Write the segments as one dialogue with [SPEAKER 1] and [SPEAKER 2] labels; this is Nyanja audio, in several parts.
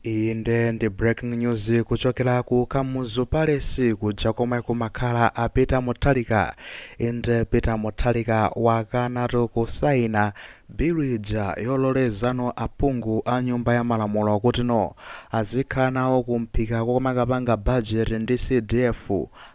[SPEAKER 1] Iyi nde ndi breaking news kuchokera ku Kamuzu Palace kuja komwe kumakhala a Peter Mutharika. Inde Peter Mutharika wakanatu kusaina bill ija yololezano aphungu a nyumba ya malamulo kuti no azikhala nawo kumphika komakapanga budget ndi CDF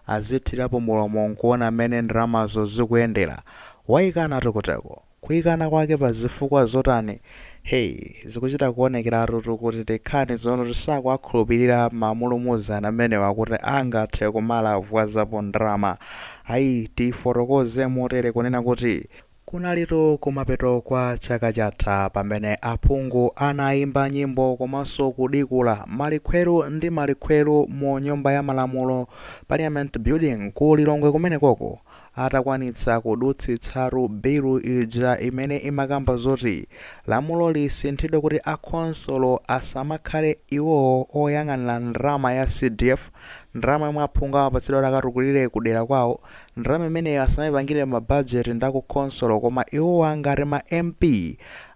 [SPEAKER 1] azithirapo mulomo nkuona mmene ndalamazo zikuyendera. Waikanatu kuteko. Kuikana kwake pa zifukwa zotani? Hey, zikuchita kuonekeratutu kuti Dekhani zoona sakuwakhulupirira mamulumuzana amenewa kuti angathe kumalavuzapo ndalama. Ayi, tifotokoze motere kunena kuti, kunalitu kumapeto kwa chaka chatha pamene aphungu anaimba nyimbo komanso kudikula malikhweru ndi malikhweru mu nyumba ya malamulo, Parliament Building, ku Lilongwe kumenekoko. Atakwanitsa kudutsitsatu bilu ija imene imakamba zoti lamulo lisinthidwe kuti a khonsolo asamakhale iwowo oyang'anira ndalama ya CDF, ndalama yomwe aphungu amapatsidwa kuti akatukulire ku dera kwawo, ndalama imeneyo asamaipangire ma budget ndi aku khonsolo koma iwowo ngati ma MP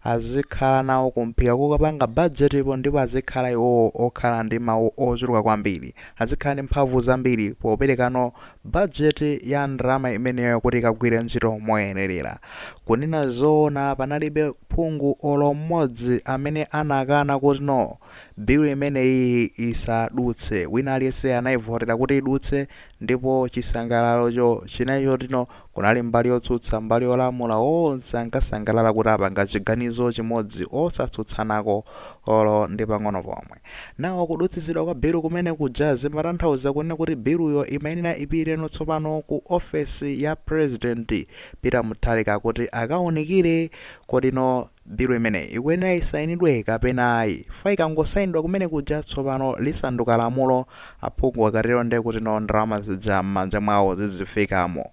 [SPEAKER 1] azikhala nawo kumphika kukapanga budget po ndipo azikhala iwowo okhala ndi mawu ochuluka kwambiri, azikhala ndi mphamvu zambiri popereka no Bajeti ya ndalama imeneyo kuti ikagwire ntchito moyenerera. Kunena zoona panalibe phungu olo mmodzi amene anakana kuti no, bill imeneyiyi isadutse. Wina aliyense anaivotera kuti idutse ndipo chisangalalocho chinali choti no, Kunali mbali yotsutsa mbali yolamula onse ankasangalala kuti apanga chiganizo chimodzi osatsutsanako olo ndi pang'ono pomwe. Nawo kudutsitsidwa kwa bill kumene kuja zimatanthauza kunena kuti biluyo imayenera ipite no tsopano ku office ya president Peter Mutharika kuti akaunikire kodi no Bilu imeneyi ikuyenera isainidwe kapena ayi. Chifukwa ikangosainidwa kumene kuja tsopano lisanduka lamulo. Aphungu akatero ndiye kuti no ndalama zija m'manja mwawo zizifikamo.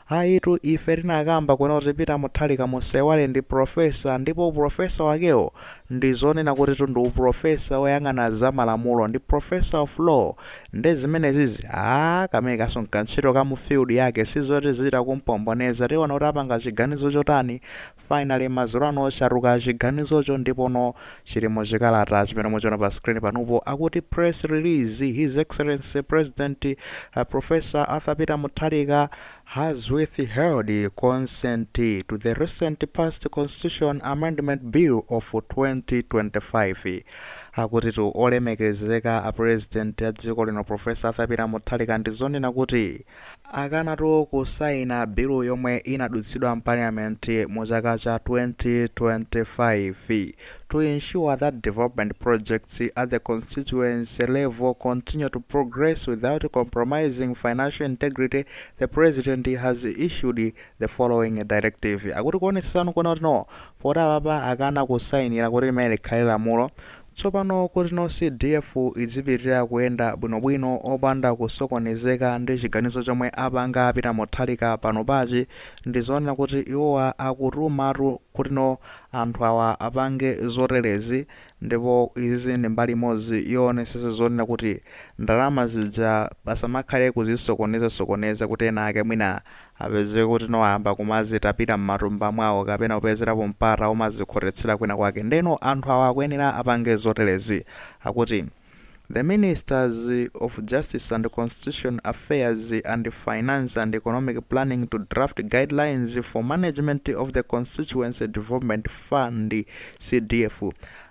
[SPEAKER 1] Ayitu ife tinakamba kuno kuti Peter Mutharika musaiwale ndi Professor ndipo u Professor wakewo ndi zonena kutitu ndi u Professor oyang'ana za malamulo ndi Professor of Law nde zimenezizi aah kameneka nkantchito ka mu field yake sizoti zitha kumpomboneza tiona kuti apanga chiganizo chotani Finally madzulo ano chatuluka chiganizocho ndipono chili mu chikalata chimene muchiona pa screen panopo akuti Press Release His Excellency President Prof Arthur Peter Mutharika has withheld consent to the recent passed Constitution Amendment Bill of 2025 Akutitu Olemekezeka a President a dziko lino Prof Arthur Peter Mutharika ndi zonena kuti akanatu kusaina bilu yomwe inadutsidwa m'Parliament mu chaka cha 2025 to ensure that development projects at the constituency level continue to progress without compromising financial integrity, the President has issued the following directive. Akuti kuonetsetsano kunena kuti no, poti apapa akana kusainira kuti limene likhale lamulo, Tsopano kuti no CDF idzipitilira kuyenda bwino bwino opanda kusokonezeka ndi chiganizo chomwe apanga a Peter Mutharika panopachi, ndi zonena kuti iwowa akutumatu kuti no anthu awa apange zoterezi ndipo izizi ndi mbali imodzi yowonetsetsa zonena kuti ndalama zija pasamakhale kuzisokoneza sokoneza kuti ena ake mwina apeze kuti no ayamba kumazitapita mmatumba mwawo kapena kupezerapo mpata omazikhotetsera kwina kwake nde no anthu awa akuyenera apange zoterezi akuti The ministers of Justice and Constitution Affairs and Finance and Economic Planning to draft guidelines for management of the Constituency Development Fund CDF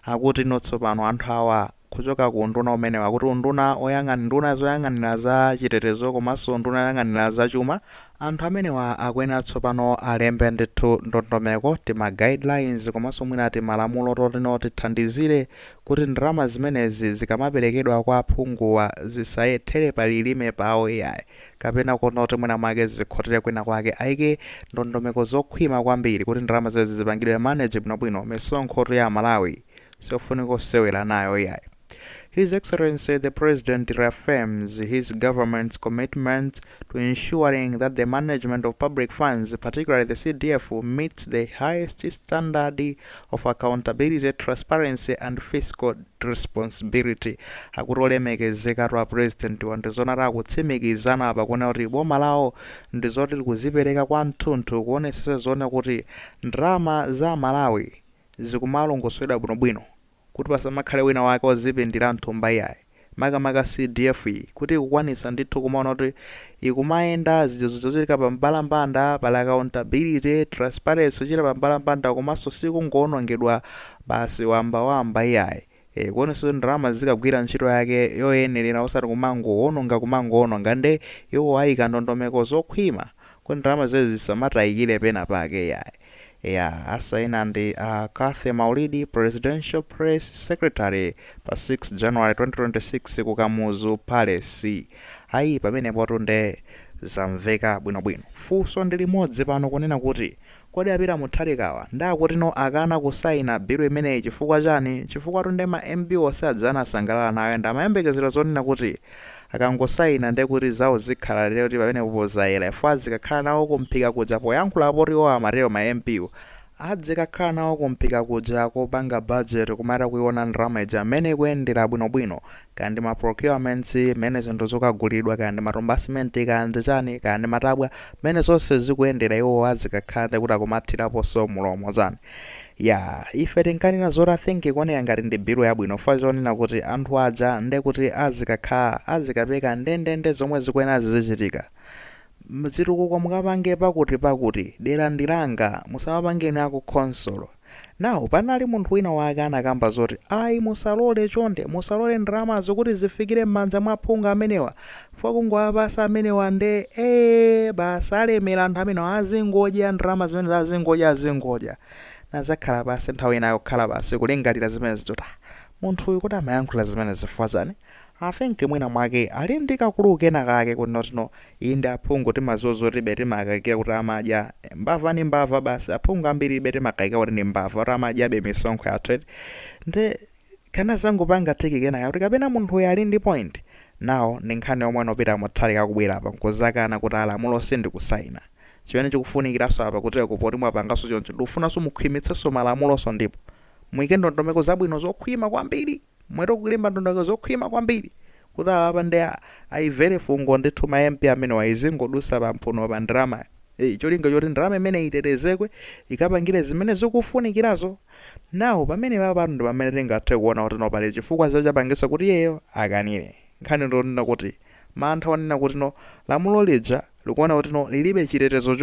[SPEAKER 1] akuti no tsopano anthu awa kuchoka ku unduna umenewu akuti unduna oyang'an nduna zoyang'anira za chitetezo komanso nduna yoyang'anira za chuma anthu amenewa akuyenera tsopano alembe ndithu ndondomeko tima guidelines komanso mwina timalamulo totino tithandizire kuti ndalama zimenezi zikamaperekedwa kwa aphunguwa zisayethere pa lilime pawo iyayi kapena kuona kuti mwina mwake zikhotere kwina kwake aike ndondomeko zokhwima kwambiri kuti ndalama zimenezi zipangidwe manage bwinobwino misonkhotu ya amalawi siofunika osewera nayo iyayi. His Excellency the President reaffirms his government's commitment to ensuring that the management of public funds, particularly the CDF, meets the highest standard of accountability, transparency and fiscal responsibility. Akuti olemekezeka tu a President wa ndi zoona akutsimikiza napa kunena kuti boma lawo ndi zoti likuzipereka kwa tunthu kuonetsetsa zonena kuti ndalama za aMalawi Zikumalongosoledwa bwinobwino kuti pasamakhale wina wake ozipindira mthumba iyayi, makamaka CDF iyi kuti ikukwanitsa ndithu kumaona kuti ikumayenda, zija zochitika pa mbalambanda, pali accountability, transparency, zochita pa mbalambanda komanso sikungoonongedwa basi wamba wamba iyayi. E, kuonetsa kuti ndalama zikagwira ntchito yake yoyenerera osati kumangowononga kumangowononga nde iwo ayika ndondomeko zokhwima kuti ndalama zimenezi zisamatayikire pena pake iyayi. Eya, asayina ndi a Cathy Maulidi, Presidential Press Secretary pa 6 January 2026 ku Kamuzu Palace. Ayi pamenepotu nde zamveka bwinobwino. Funso ndi limodzi pano kunena kuti Kodi a Peter Mutharikawa nde akuti no akana kusaina bill imeneyi chifukwa chani? Chifukwatu nde ma MP onse aja anasangalala nayo and amayembekezera zonena kuti akangosaina nde kuti zawo zikhala lero kuti pamenepopo zayera chifukwa azikakhala nawo ku mphika kuja poyankhula poti iwowo amatero ma MP wo adzikakhala nawo ku mphika kuja kopanga budget kumatha kuiona ndalama ija mmene ikuyendera bwinobwino kaya ndi ma procurements, mmene zinthu zikukagulidwira, kaya ndi matumba a simenti, kaya ndi chani, kaya ndi matabwa, mmene zonse zikuyendera iwowo azikakhala nde kuti akumathiraponso mulomo chani. Yaah, ife tinkanena zoti I think ikuoneka ngati ndi bill yabwino chifukwa chonena kuti anthu aja nde kuti azikakhala, azikapeka ndendende zomwe zikuyenera zizichitika. Mzitukuko mukapange pakuti pakuti, dera ndi langa, musamapange ndi aku khonsolo. Now panali munthu wina wake anakamba zoti ayi musalole chonde musalole ndalamazo kuti zifikire mmanja mwa aphungu amenewa chifukwa kungowapasa amenewa nde ee basi alemera anthu amenewa azingodya ndalama zimenezo azingodya azingodya. Ndinazakhala pansi nthawi ina kukhala pansi kulingalira zimenezo zoti ah munthu uyu kodi amayankhula zimenezi chifukwa chani? I think mwina mwake ali ndi ka clue kena kake kuti not no, inde aphungu timaziwa zoti iih be timakayikira kuti amadya, mbava ndi mbava basi, aphungu ambiri iih be timakayikira kuti ndi mbava kuti amadyabe misonkho yathu eti, nde kanazangopanga click kenaka kuti kapena munthu uyu ali ndi point, now ndi nkhani yomwe no Peter Mutharika akubwera apa nkuzakana kuti ah lamuloli sindikusaina, chimene chikufunikiranso apa kutereko poti mwapanganso choncho ndikufunanso mukhwimitsenso malamulonso ndipo muyike ndondomeko zabwino zokhwima kwambiri. Muyike ndondomeko zokhwima kwambiri kuti apapa nde ayimvere fungo ndithu ma MP amenewa izingodusa pa mphunopa ndalamayi cholinga choti ndalama imeneyi itetezekwe ikapangire zimene zikufunikirazo now pamenepapatu ndipamene tingathe kuona kuti no pali chifukwa chomwe chapangisa kuti iyeyo akanire nkhani ndiyonena kuti mantha onena kuti no lamulo lija likuona kuti no lilibe chitetezo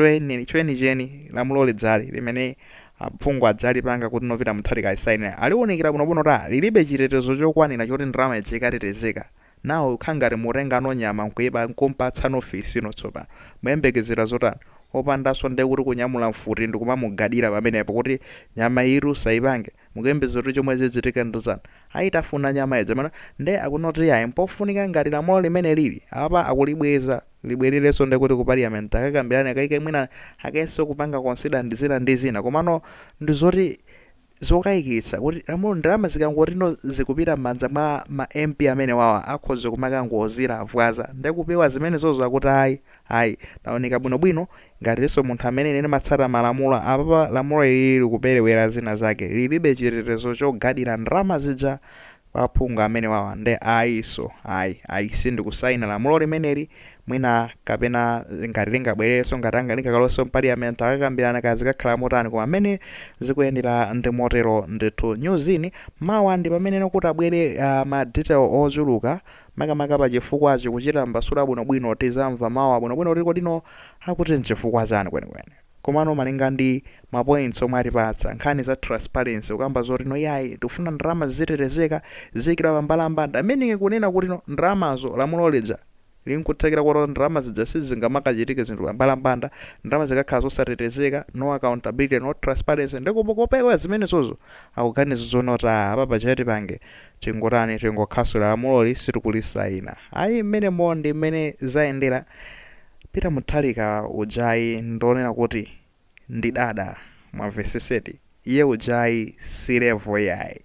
[SPEAKER 1] chenicheni lamulo lija limene aphungu aja alipanga kuti no Peter Mutharika asaine aliwunikira bwinobwino kuti a lilibe chitetezo chokwanira choti ndalama ija ikatetezeka now kukhala ngati mutenga no nyama nkuipa nkumpatsa no fisi no tsopano muyembekezera zotani opandaso ndiye kuti kunyamula mfuti ndikumamugadira pamenepo kuti nyama iyitu usaipange Mukuyembekeza kuti chomwe chichitike ndi chani ayitafuna nyama ija pano nde akuna kuti yayi mpofunika ngati lamulo limene lili apapa akulibweza libweleleso ndekuti ku parliament akakambilane akaike mwina akayenso kupanga consider ndizina ndizina komano ndizoti zokaikitsa kuti lamulo ndalama zikangoti no zikupita mmanja mwa ma mp amenewawa akhoza kumakangozilavwaza ndekupewa zimenezozo akuti ayi Ayi. Naunika bwino bwino ngatiso munthu amene ine ndimatsata malamulo apapa lamulo ilili likupelewela zina zake lilibe chitetezo chogadila ndalama zija kwa aphungu amenewawa nde ayiso ayi ayi sindikusaina lamulo limeneli mwina kapena ngati lingabweleleso ngati lingakaloweso mpaliyamenti akakambilana kaya zikakhala motani koma mene zikuyendela ndimotelo ndithu nyuzi mawa ndipamene kutabwele ma detail ochuluka Makamaka pa chifukwachi, kuchitambasura bwinobwino tizamva mawa bwinobwino kuti kodi no akuti nchifukwa chani kwenikweni. Komano malinga ndi ma points omwe atipatsa, nkhani za transparency kukamba zoti no iyayi tikufuna ndalama zizitetezeka, ziziikidwa pa mbalambanda meaning kunena kuti no ndalamazo lamulo lija linkuthekera kotero ndalama zija sizingamakachitike zinthu pa mbalambanda ndalama zikakhala zosatetezeka, no accountability, no transparency nde kopewera zimenezozo akuganiza zoti no apapa chete tipange Tingotani? Tingokhasula lamuloli sitikulisaina ayi mmenemo ndi mmene zayendera Peter Muthalika uja ayi ndi wonena kuti ndi dada mwamvesetseti iye uja ayi si level iyayi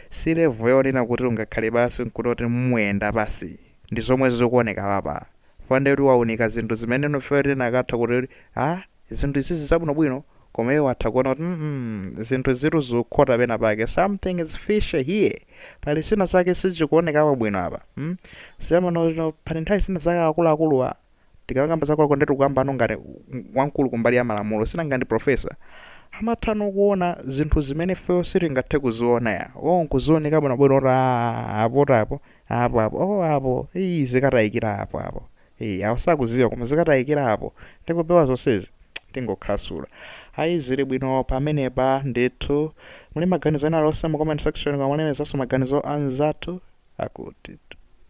[SPEAKER 1] si level yonena kuti ungakhale pansi nkunoti muyenda pansi. ndi zomwe zikuoneka apapa fukwa nde kuti waunika zinthu zimene enafe tinakatha kuti a zinthu izizi zabwino bwino koma iye watha kuona kuti mm zinthu izitu zikukhota pena pake something is fishy here pali china chake sichikuonekapo bwino apa mm siyamano pali nthawi zina zake akuluakuluwa Tikakamba za Kwakonde tikukambano ngati wamkulu kumbali ya malamulo sinanga ndi professor. Amathano kuona zinthu zimene ifeyo sitingathe kuziona ya. Iwowo nkuziona bwinobwino kuti aah apota apo, apo apo, oh apo, iih zikatayikira apo apo. Iih awo sakuziwa koma zikatayikira apo. Nde kupewa zonsezi tingokhasula. Ayi zili bwino pamenepa ndithu. Muli maganizo ena alionse mu comment section koma mulembenso maganizo anzathu akutitu.